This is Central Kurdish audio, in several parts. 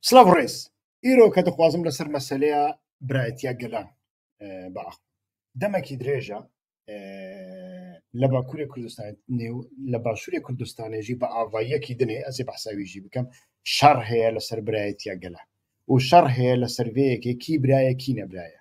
سڵاو ڕێز ئیرۆ کە دەخوازم لەسەر مەسلەیە برایەتە گەلان باخ دەمەکی درێژە لە باکووری کوردستان نێو لە باشووری کوردستانێژی بە ئاڤاییەکی دنێ ئەزی بەحساویژی بکەم شەڕ هەیە لەسەر برایەتە گەلان و شەڕ هەیە لە سەرێەکێکی برایەکی نەبرایە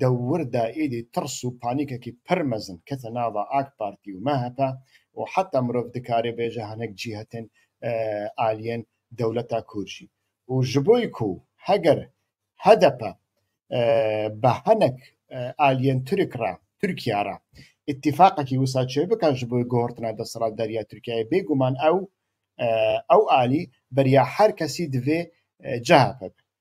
دەوردا ئیدی تڕس و پانیکەکی پڕ مەزن کەتە ناڤا ئاک پارتی و مەهەپە و حەتا مرۆڤ دکارێ بێژە هەنێک جیهەتێن ئالیێن دەولەتا کورژی و ژبۆی کوو هەگەر هەدەپە بە هەنەک ئالیێن تورک ڕا تورکیا ڕا ئتیفاقەکی وسا چێ بکە ژبۆی گۆڕتنا دەسەڵات دەریا تورکیای بێگومان ئەو ئەو ئالی بەریا هەر کەسی دڤێ جەهەپە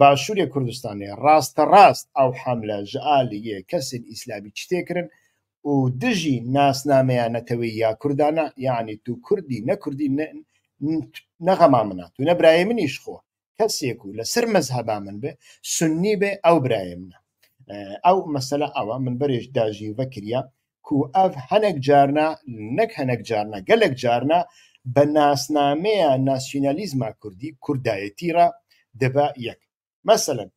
باشووری کوردستانی ڕاستە ڕاست ئەو حەملە ژعالیە کەسێن ئیسلامی چتێکرن و دژی ناسنامەیان نەتەوەی یا کوردانە یعنی تو کوردی نەکردی نەغەما منە تو نە برای منیش خۆ کەسێک و لەسەر مەزهبا من بێ سنی بێ ئەو برای منە ئەو مەسەلە ئەوە من بەرێش داژی وەکرە کو ئەڤ هەنێک جارنا نەک هەنێک جارنا گەلێک جارنا بە ناسنامەیە ناسیونالیزما کوردی کوردایەتی را دەبا یەک مەسەلەن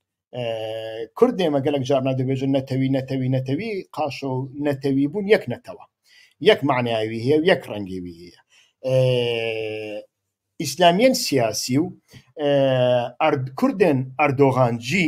کورد دێمە گەلک جارنا دەبێژن نەتەوی نەتەوی نەتەوی قاشە و نەتەوی بوون یەک نەتەوە یەک معناوی هەیە و یەک ڕەنگێوی هەیە ئیسلامیان سیاسی و کوردن ئەردۆغانجی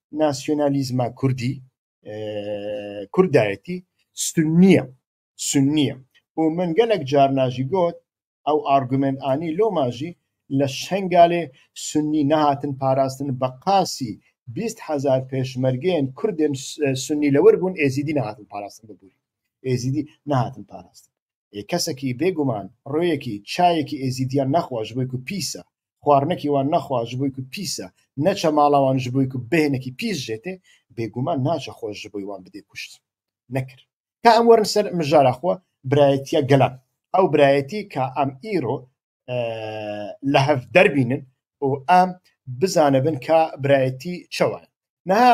ناسیۆنالیزمە کوردی کوردایەتی سنیە سنیە بۆ من گەلک جار ناژی گۆت ئەو ئارگومنت ئانی لۆ ماژی لە شنگالێ سنی نەهاتن پاراستن بە قاسی بیست هزار پێشمەرگێن کوردێن سنی لەوەر بوون ئێزیدی نەهاتن پاراستن ببووری ئێزیدی نەهاتن پاراستن کەسێکی بێگومان ڕۆیەکی چایەکی ئێزیدیان نەخواش بۆی و پیسە خواردنەکی وان نەخوا ji بووی کو پیسە نەچە ماڵاوان ji بووی کو بهێنەکی پیس ژێتێ بێگومان ناچە خۆش ji بووی وان بدێ کوشت نەکرد تا ئەم وەرن سەر مژارا خۆ برایەتە گەلان ئەو برایەتی کە ئەم ئیرۆ لە هەف دەربینن و ئەم بزانە بن کە برایەتی چەوان نها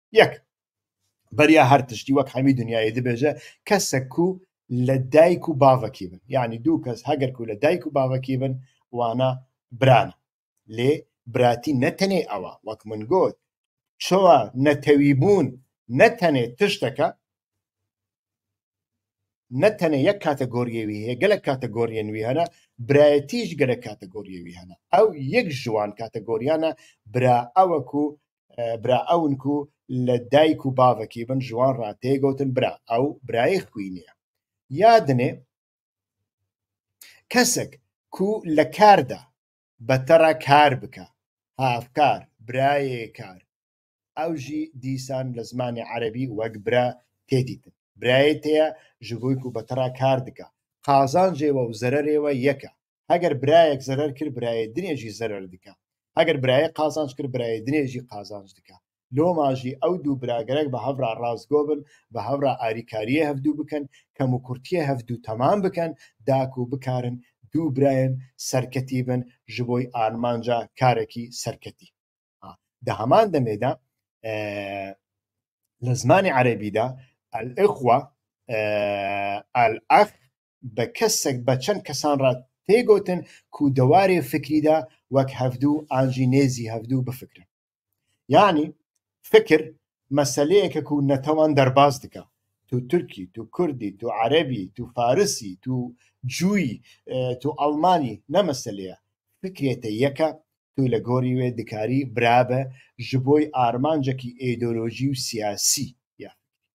یەک بەریا هەر تشتی وەک هەمی دنیای دەبێژە کەسەک و لە دایک و باوەکی بن یعنی دوو کەس هەگەر و لە دایک و باوەکی بن وانە بران لێ براتی نەتەنێ ئەوە وەک من گوت چۆە نەتەوی بوون نەتەنێ تشتەکە نەتەنە یەک کاتە گۆریەوی هەیە گەلە کاتە گۆریێنوی هەنە برایەتیش گەلە کاتە گۆریەوی هەنە ئەو یەک ژوان کاتە گۆریانە برا ئەوەکو برا ئەون کو لە دایک و باوەکی بن ژوان ڕاتێ گەوتن برا ئەو برایەک کوی نییە یادنێ کەسێک کو لە کاردا بەتەڕە کار بکە هاافکار برایێ کار ئەوژی دیسان لە زمانی عەربی وەک برا تێدیتن برایەتەیە ژڤۆیک و بەتەڕا کار دکە قازان جێوە و زەرەرێوە یەکە هەگەر برایەک زەرەر کرد برایە درێژی زەرەر دکە ئەگەر برایە قازانج کرد برایە درێژی قازانج دکە لۆ ماژی ئەو دوو براگەرەک بە هەورا ڕاستگۆ بن بە هەورا ئاریکاریە هەفتوو بکەن کەم و کورتە هەفتوو تەمان بکەن داک و بکارن دوو برایم سەرکەتی بن ji بۆی ئارمانجا کارێکی سەرکەتی دە هەمان دەمێدا لە زمانی عەربیدا ئەلئخوە ئەلئەخ بە کەسەک بە چەند کەسان ڕا تێگۆتن کو دەوارێ فکریدا وەک هەڤدوو ئانجی نێزی هەڤدوو بفکرن یانی فکر مەسەلەیەکە کو نەتەوان دەرباز دکا تو تورکی تو کوردی تو عەرەبی تو فارسی تو جوی تو ئەڵمانی نە مەسەلەیە فکرێتە یەکە تو لە گۆری وێ دکاری برابە ژبۆی ئارمانجەکی ئێدۆلۆژی و سیاسی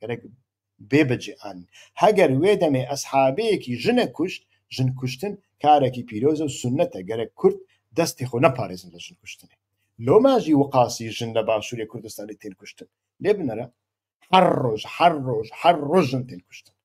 گەرەک بێ بەجێ ئان هەگەر وێ دەمێ ئەسحابەیەکی ژنە کوشت ژن کوشتن کارێکی پیرۆزە و سنەتە گەرەک کورد دەستی خۆ نەپارێزن لە ژن کوشتنێ لۆ ماژی وقاسی ژن لە باشووری کوردستانی تێن کوشتن لێ بنەرە هەر ڕۆژ هەر ڕۆژ هەر ڕۆژن تێن کوشتن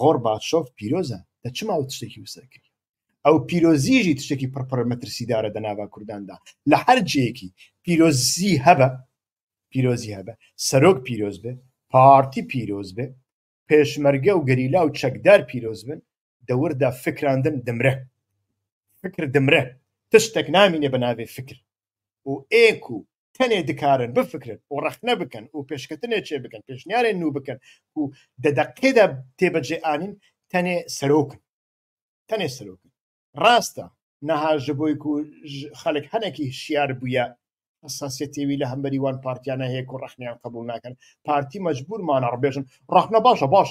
غۆڕباچۆف پیرۆزە دە چ ماوە تشتێکی وسە کرد ئەو پیرۆزیژی تشتێکی پڕپڕ مەترسیدارە دە ناوا کورداندا لە هەر جێکی پیرۆزی هەبە پیرۆزی هەبە سەرۆک پیرۆز بێ پارتی پیرۆز بێ پێشمەرگە و گەریلا و چەکدار پیرۆز بن دەوردا فکراندن دمرە فکر دمرە تشتێک نامینێ بە ناوێ فکر و ئێک و تەنێ دکارن بفکرن و ڕخنە بکەن و پێشکەتنێ چێ بکەن پێشنیارێ نو بکەن و دەدەقێدا تێبەجێ ئاین تەنێ سەرۆکن تەنێ سەرۆکن ڕاستە نەهاژ بۆی و خەلک هەنێکی شیار بووە ئەساسەتێوی لە هەمبەری وان پارتیانە هەیە و ڕخنیان قبول ناکەن پارتی مەجبورمانە ڕبێژن ڕخنە باشە باش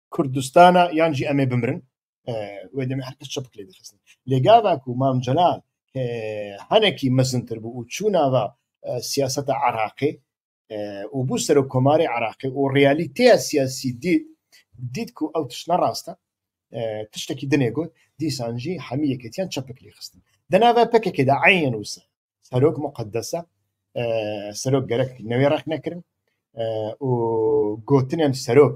کوردستانە یان جی ئەمێ بمرن لێگاواک و مامجلال هەنێکی مەزنتر بوو و چووناوە سیاستە عراقی و بوو سەر و کۆماری عراقی و ڕیالیتەیە سیاسی دیت دیت و ئەو تشنە ڕاستە تشتێکی دنێ گوت دیسانجی هەمی یەکەتیان چەپکلی خستن دەناوە پکێکێدا عین وسە سەرۆک مقدسە سەرۆک گەرەک نەوێ ڕخ نەکردن و گوتنیان سەرۆک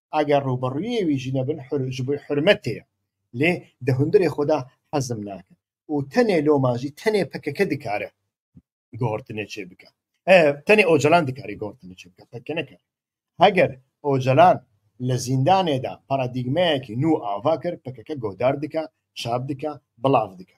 ئەگەر ڕوبەڕویێ وی ژنە بن ژبوی حرمەتێە لێ دە هندرێ خۆدا حەزم ناکە و تەنێ لۆ ماژی تەنێ پەکەکە دکارە گۆڕتنێ چێ بکە تەنێ ئۆجلان دکاری گۆڕتنێ چێ بکە پەکە نەکە هەگەر ئۆجلان لە زیندانێدا پارادیگمەیەکی نو ئاوا کرد پەکەکە گۆدار دکە شاب دکە بڵاف دکە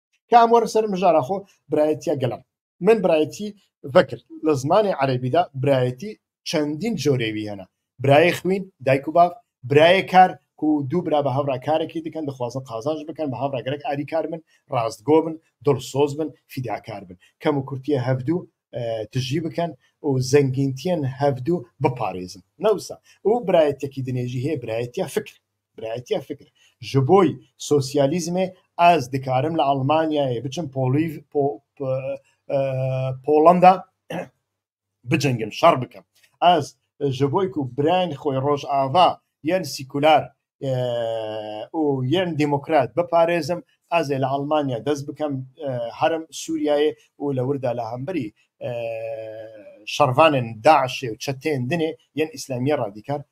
کام وەرە سەر مژارە خۆ برایەتە گەلم من برایەتی ڤەکرد لە زمانی عەربیدا برایەتی چەندین جۆرێوی هەنە برای خوین دایک و باف برایە کار کو دوو برا بە هاوڕا کارێکی دکەن دەخوازن قازانج بکەن بە هاوڕاگەرەک ئاری کار من ڕاستگۆ بن دڵ سۆز بن فیداکار بن کەم و کورتە هەفتوو تژی بکەن و زەنگینتیان هەفتوو بپارێزن نەوسە ئەو برایەتێکی دنێژی هەیە برایەتە فکر برایەتیە فکر ژ بۆی سۆسیالیزمێ ئاز دکارم لە ئەڵمانیایێ بچم پۆڵیڤ پۆ پۆ ئە پۆڵەندا بجەنگم شەڕ بکەم ئاز ژ بۆیک و برایانی خۆی ڕۆژئاڤا یان سیکولار ئە و یان دمۆکرات بپارێزم ئازێ لە ئەڵمانیا دەست بکەم ئە هەرم سووریایێ و لە وردا لە هەمبەری ئە شەڕڤانێن داعشێ و چەتێن دنێ یان ئیسلامیە ڕادیکار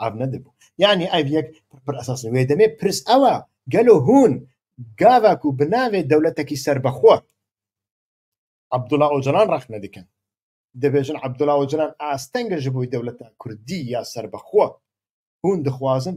ئاڤ نەدەبوو یعنی ئایڤ یەک پڕ ئەساس وێ دەمێ پرس ئەوە گەلو هون گاڤاک و بناوێ دەولەتەکی سربەخۆ عبدوڵا ئۆجلان ڕەخنە دەکەن دەبێژن عبدوڵا ئۆجلان ئاستەنگە ژ بووی دەولەتە کوردی یا سربەخۆ هون دخوازن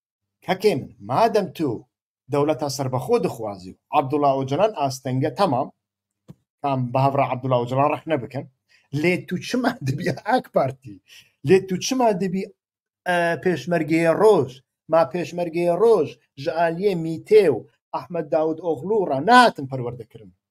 کەکێ من مادەم تو دەولەتە سەربەخۆ دخوازی و عەبدوڵا ئۆجەلان ئاستەنگە تەمام کام بە هەڤرا عەبدوڵا ئۆجەلان ڕەخنە بکەن لێ تو چما دەبی ئاک پارتی لێ تو چما دەبی پێشمەرگەیە ڕۆژ ما پێشمەرگەیە ڕۆژ ژعالیە میتێ و ئەحمد داود ئۆغلوڕە ناتم پەروەردەکردن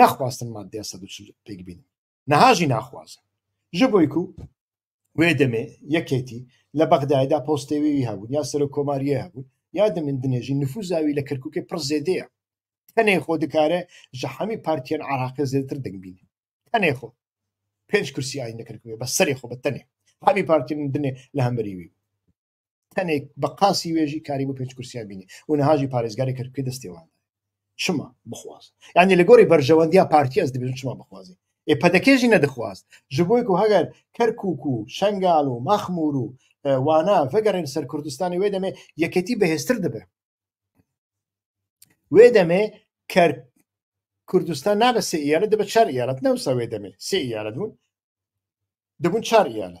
ناخواستن مادە سە پێک بین نەهاژی ناخوازن ژ بۆیک و وێ دەمێ یەکێتی لە بەغدایدا پۆستێوی هەبوون یا سەر کۆماریە هەبوون یادە من دنێژی نفوزاوی لە کەرککە پڕ زێدەیە تەنێ خۆ دکارە ژە حەمی پارتیان عراقی زێتر دەنگبینی تەنێ خۆ پێنج کورسی ئاین نەکردێ بە سەری خۆ بە تەنێ حەمی پارتی دنێ لە هەمبەریوی تەنێک بە قاسی وێژی کاری بۆ پێنج کورسیان بینی و نەهاژی پارێزگاری کردکە دەستێوان چما بخواز یعنی لە گۆری بەرژەوەندیا پارتی ئەس دەبێت چما بخوازی ئێ پەدەکێژی نەدەخواست ji بۆیک و هەگەر کەرکک و شنگال و مەخمور و وانا vەگەڕێن سەر کوردستانی وێ دەمێ یەکێتی بەهێزتر دەبێ وێ دەمێ کەر کوردستان نابە سێ یالە دەبە چار یالت نەوسە وێ دەمێ سێ یالت بوون دەبوون چار یالە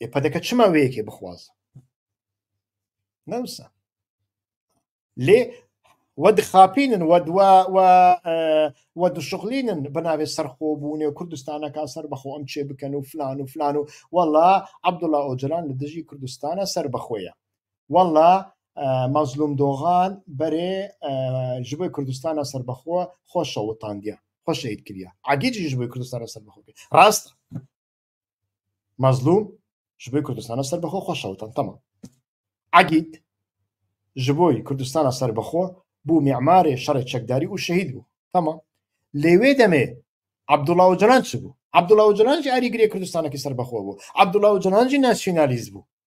ئێ پەدەکە چما وەیەکێ بخوازە نەوسە لێ وە دخاپینن وە دوا وە دوشغلینن بەناوێ سەرخۆبوونێ و کوردستانەکە سەر بەخۆ ئەم چێ بکەن و فلان و فلان و وەڵا عبدوڵا ئۆجلان لە دژی کوردستانە سەر بەخۆیە وەڵا مەزلوم دۆغان بەرێ ji بۆی کوردستانە سەر بەخۆ خۆشەوەتاندە خۆشەید کریا عگیجیش بۆی کوردستانە سەر بەخۆ ڕاست مەزلوم ژبۆی کوردستانە سەر بەخۆ خۆشەوە تەمتەمە عەگید ژبۆی کوردستانە سەر بەخۆ بوو میعمارێ شەڕێ چەکداری و شەهید بوو تەمە لەوێ دەمێ عبدوڵا و جلان چ بوو عبدوڵا و جلانجی ئاریگرێ کوردستانەکە سەر بەخۆ بوو عبدوڵا و جلانجی ناسیۆنالیز بوو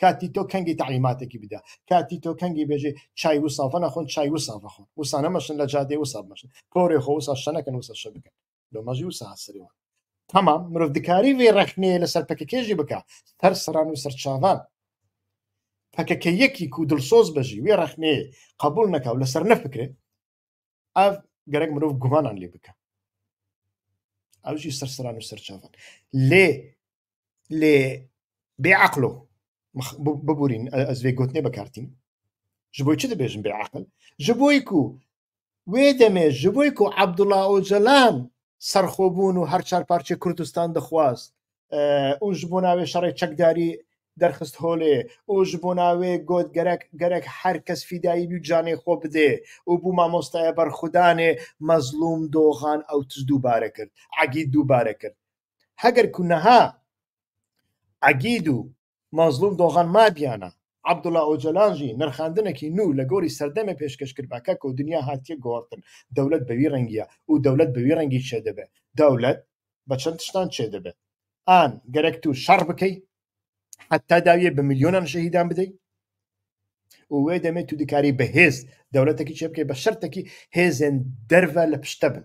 کاتی تۆ کەنگی تعلیماتێکی بدە کاتی تۆ کەنگی بێژێ چای و سافە نەخۆن چای و سافە خۆن وسانە مەشن لە جادێ و ساب مەشن کۆرێ خۆ وسا شەنەکەن وسە شە بکەن لە مەژی و ساسرەوە تەمام مرۆڤ دکاری وێ ڕەخنەیە لەسەر پەکەکێژی بکە هەر سەران و سەرچاوان پەکەکە یەکی و دڵسۆز بەژی وێ ڕەخنەیە قبول نەکاو لەسەر نەفکرێت ئاف گەرەک مرۆڤ گومانان لێ بکە ئەوجی سەرسران و سەرچاوان لێ لێ بێ عقلۆ ببورین ئەزێ گوتنێ بەکارتین ji بۆی چ دەبێژم بێ عقل ji بۆی و وێ دەمێ ji بۆی و عبدوڵا ئۆجەلان سەرخۆبوون و هەر چار پارچە کوردستان دەخواست ئوش بۆ ناوێ شەڕی چەکداری دەرخست هۆلێ ئوش بۆ ناوێ گۆت گەرەک گەرەک هەر کەس فیدایی بی جانێ خۆ بدێ و بوو مامۆستایە بەرخودانێ مەزلوم دۆغان ئەو تز دووبارە کرد عگید دووبارە کرد هەگەر کونەها عگید و مەزڵوم دۆغان مابیانە، عەبدوڵا ئۆجەلان ژی، نرخاندنەکی نوو لە گۆری سەردەمێ پێشکەش کربا کە کەو دنیا هاتیە گۆڕتن، دەولەت بە وی رەنگیە ئوو دەولەت بە وی رەنگی چێ دەبێ، دەولەت بە چەن تشتان چێ دەبێ ئان گەرەک توو شەڕ بکەی حەتا داویە بە ملیۆنان شەهیدان بدەی و وێ دەمێ تو دکاری بە هێز دەولەتەکی چێ بکەی بە شەرتەکی هێزێن دەرڤە لە پشتە بن.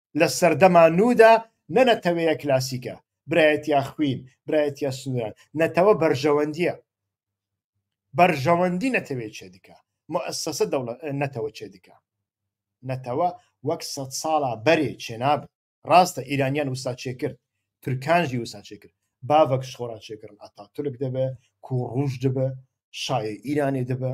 لە سەردەما نودا نە نەتەوەیە کلاسیکە برایەتیا خوین برایەتیا سنووران نەتەوە بەرژەوەندیە بەرژەوەندی نەتەوێ چێ دکە مؤسسە دەوڵەت نەتەوە چێ دکە نەتەوە وەک سە ساڵا بەرێ چێناب ڕاستە ئیرانیان وسا چێ کرد ترکانجی وسا چێ کرد باڤک شخۆرا چێکردن ئەتا تورک دەبێ کو ڕوش دەبێ شاە ئیرانێ دەبێ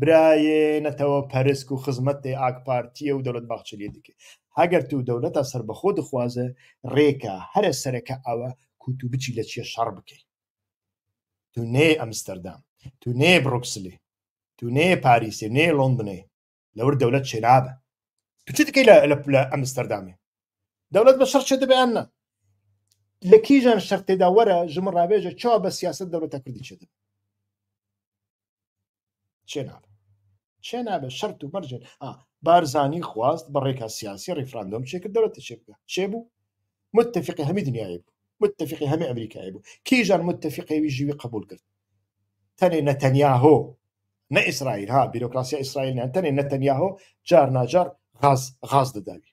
برایێ نەتەوە پەرسک و خزمەت دەی ئاک پارتیە و دەولەت باخچەلی دکێ هەگەر تو دەولەتە سەر بەخۆ دخوازە رێکە هەرە سەرەکە ئەوە کوتو بچی لە چیە شەڕ بکەی تو نێ ئەمستەردام تو نێ بڕکسلی تو نێ پاریسێ نێ لۆندنێ لەور دەولەت چێنابە تو چ دکەی لە ئەمستەردامێ دەولەت بە شەڕ چێ دەبیان نە لە کیژان شەر تێدا وەرە ژمە ڕاوێژە چا بە سیاست دەولەتە کوردی چێ دەبێ چێ نابێ چێ نابێ شەرت و مەرجێن بارزانی خواست بە ڕێکا سیاسی ڕیفراندۆم چێکرد دەوەتە چێ بکە چێ بوو متفقی هەمی دنیای بوو متفقی هەمی ئەمریکای بوو کیژان متفقەوی ژیوی قبول کرد تەنێ نەتەنیا هۆ نە ئیسرائیل ها بیرۆکراسی ئیسرائیل نەتەنێ نەتەنیا هۆ جار ناجار غاز غاز دەداوی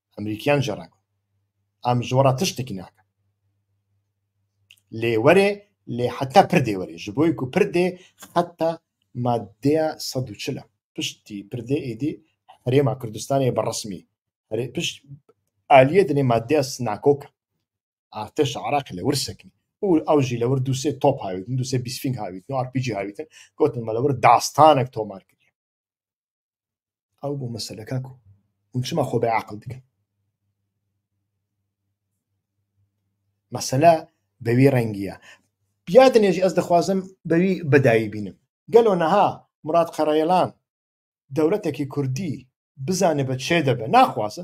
ئەمریکیان ژەڕەکە ئەم ژۆڕە تشتێکی ناکە لێوەرێ لێ حتا پردێ وەرێ ژ بۆی و پردێ حتا مادەیە سە چلە پشتی پردێ ئیدی هەرێما کوردستانی بە ڕسمی پشت ئالیە دنێ مادەیە سناکۆکە ئارتش عراق لە ورسەکەی و ئەو ژی لەوە دوسێ تۆپ هاویتن دوسێ بیسفینگ هاویت و ئارپیجی هاویتن گوتن مەلەوە داستانێک تۆمار کرد ئەو بۆ مەسەلە کاک و ونچما خۆ بە عقل دکە مەسەلە بەوی ڕەنگیە بیا دنێژی ئەس دەخوازم بەوی بەداوی بینم گەلۆ نەها مراد قەڕەیەلان دەولەتێکی کوردی بزانێ بە چێ دەبێ ناخوازە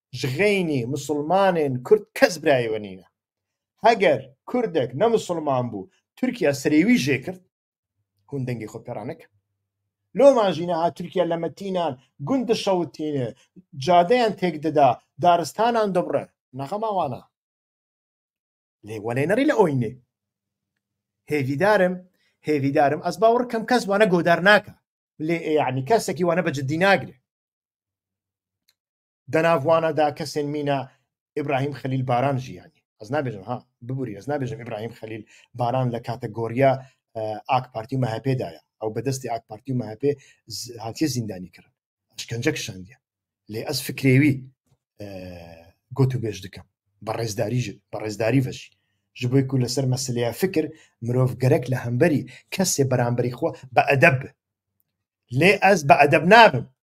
ژغێنی مسوڵمانێن کورد کەس برایەوە نینە هەگەر کوردێک نە مسوڵمان بوو تورکیا سرێوی ژێ کرد هون دەنگی خۆ پێرانەکە لۆمان ژینە ها تورکیا لە مەتینان گوند شەوتینە جادەیان تێک دەدا دارستانان دەبڕێ نەخەماوانە لێ وەلێ نەڕی لە ئۆینێ هێویدارم هێویدارم ئەس باوەڕ کەم کەس وانە گۆدار ناکە لێ یعنی کەسێکی وانە بە جددی ناگرێ دەناڤوانە دا کەسێن مینە ئبراهیم خەلیل باران ژیانی ئەز نابێژم ها ببووری ئەز نابێژم ئبراهیم خەلیل باران لە کاتە گۆریە ئاک پارتی و مەهپێدایە ئەو بەدەستی ئاک پارتی و مەهپێ هااتێ زیندانی کردن شکنجە کشاندە لێ ئەس فکرێوی گوت و بێژ دکەم بە ڕێزداری بە ڕێزداری بەشی ji بۆی کو لەسەر مەسلەیە فکر مرۆڤ گەرەک لە هەمبەری کەسێ بەرامبەری خۆ بە ئەدەب لێ ئەس بە ئەدەب نابم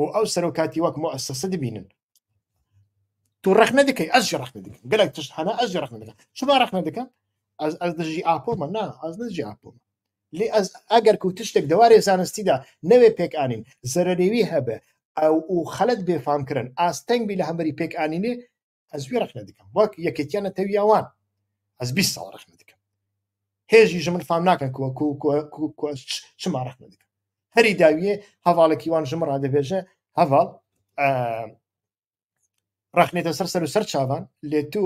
و ئەو سەرۆ کاتی وەک مؤسسە دبینن تو رەخنە دەکەی ئەش رەخنە دەکەن گەلک تشت هەنا ئەش رەخنە دەکەن شما رەخنە دەکەن ئەز ئەز دژی ئاپۆمە نا ئەز نجی ئاپۆمە لێ ئەز ئەگەر کو تشتێک دەوارێ زانستیدا نەوێ پێکانین زەرەێوی هەبێ ئەو و خەلت بێفامکردن ئاستەنگ بی لە هەمەری پێکانینێ ئەزوی ڕخنە دکەم وەک یەکێتیان نەتەویاوان ئەس 20 ساڵ ڕخنە دکەم هێژی ژمن فام ناکەن چما ڕخنە دکەم هەری داویێ هەواڵێکی وان ژمە ڕادەبێژە هەواڵ ڕخنێتە سەر سەر و سەر چاوان لێ تو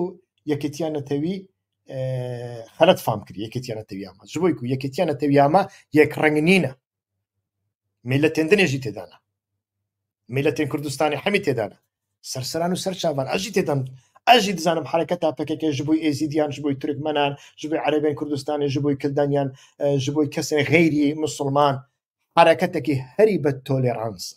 یەکێتیان نەتەوی خەرت فام کرد یەکێتیانە تەویامە ژبووی و یەکێتیانە تەویامە یەک ڕنگ نینە میلە تێندنێژی تێدانە میلە تێن کوردستانی حەمی تێدانە سەرسەران و سەر چاوان ئەژی تێدەم ئەژی دزانم حرەکە تا پکەکە ژ بووی ئێزیدیان ژ بووی ترکمەنان ژ بووی عەربێن کوردستانی ژ بووی کلدانیان ژ بووی کەسێ غەیری مسلمان حرەکەتێکی هەری بە تۆلێرانسە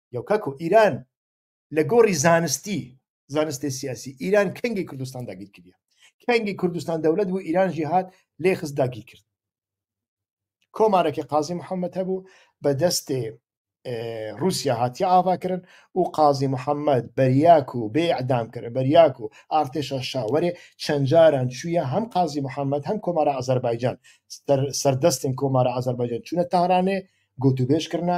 یو کاک و ئیران لە گۆڕی زانستی زانستی سیاسی ئیران کەنگی کوردستان داگیر کردە کەنگی کوردستان دەولەت بوو ئیرانژی هاات لێ خست داگیر کرد کۆمارەکە قازی محەممەد هەبوو بە دەستێ رووسیا هاتی ئاواکردن و قازی محەممەد بەریاک و بێ ئەدام کرد بەریاک و ئارتێشە شاوەرێ چەند جاران چویە هەم قازی محەممەد هەم کۆمارە ئازەربایجان سەردەستن کۆمارە ئازەربایجان چونە تارانێ گوتوبێژکردە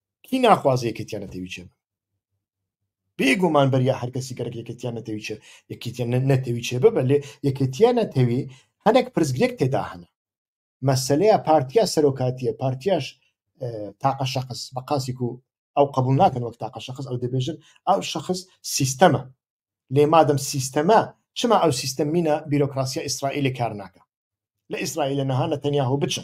کی ناخوازە یەکێتیان نەتەوی چێ بێ گومان بەریا هەرکەسی گەرەک یەکێتیان نەتەوی چێ یەکێتیان نەتەوی چێ ببە لێ یەکێتیان نەتەوی هەندێک پرسگرێک تێدا هەنە مەسلەیە پارتیا سەرۆکاتیە پارتیاش تاقە شخص بە قاسیک و ئەو قبول ناکەن وەک تاقە شخص ئەو دەبێژن ئەو شخص سیستەمە لێ مادەم سیستەمە چما ئەو سیستەمینە بیرۆکراسیە ئیسرائیلی کار ناکە لە ئیسرائیل نەهانە تەنیاهۆ بچە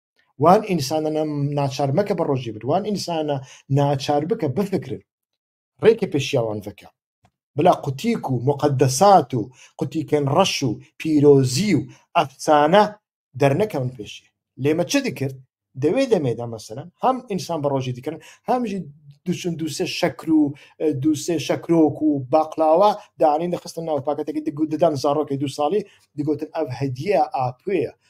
وان ئینسانە ناچار مەکە بە ڕۆژی بر وان ئینسانە ناچار بکە بفکرن ڕێکە پێشیاوان بکە بلا قوتیک و مقدسات و قوتیکەن ڕەش و پیرۆزی و ئەفسانە دەرنەکەون پێشی لێمە چ دکرد دەوێ دەمێدا مەسەرەن هەم ئینسان بە ڕۆژی دکرن هەمژی دوچن دوسێ شەکر و دوسێ شەکرۆک و باقلاوە دانین دەخستن ناو پاکەتێکی دەدان زارۆکی دو ساڵی دگوتن ئەف هەدیە ئاپێە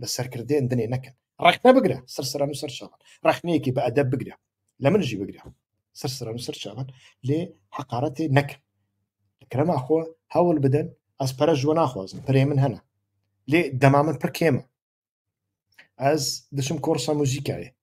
بە سەرکردێن دنێ نەکەن ڕخنە بگرە سەرسەران و سەرچاوان ڕخنەیەکی بە ئەدە بگرە لە منژی بگرە سەرسەران و سەرچاوان لێ حقارەتێ نەکەن کرەما خۆ هەوڵ بدەن ئەس پەرە ژوە ناخوازن پرێ من هەنا لێ دەما من پڕکێمە ئەس دەچم کۆرسە موزیکایە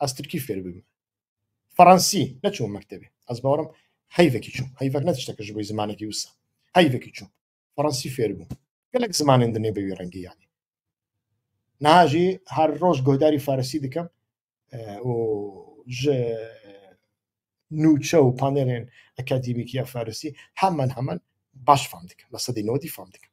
ئەس ترکی فێر ببم فەڕەنسی نەچوو مەکتەبێ ئەس باوەڕم حیفێکی چوو حیفەک نەتشتەکە ژ بۆی زمانێکی وسە حیفێکی چوو فەڕەنسی فێر بوو گەلک زمانێن دنێ بەوی ڕەنگی یانی ناژی هەر ڕۆژ گۆداری فارسی دکەم نوچە و پانێرێن ئەکادیمیکی یا فارسی هەمان هەمان باش فام دکەم لە سەدی نەوەدی فام دکەم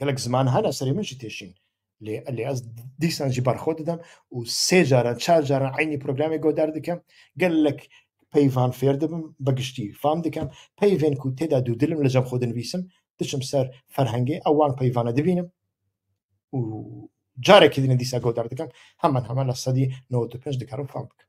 گەلک زمان هەن ئەسەری منشی تێشین لێ لێ ئەس دیسانجی بەرخۆ دەدەم و سێ جاران چار جاران عینی پرۆگرامی گۆدار دەکەم گەلک پەیڤان فێر دەبم بەگشتی فام دەکەم پەیڤێن و تێدا دوو دلم لە جەم خۆدنویسم دچم سەر فەرهەنگی ئەوان پەیوانە دەبینم و جارێکی دنە دیسا گۆدار دەکەم هەمان هەمان لە سەدی 95 دکارم فام بکەم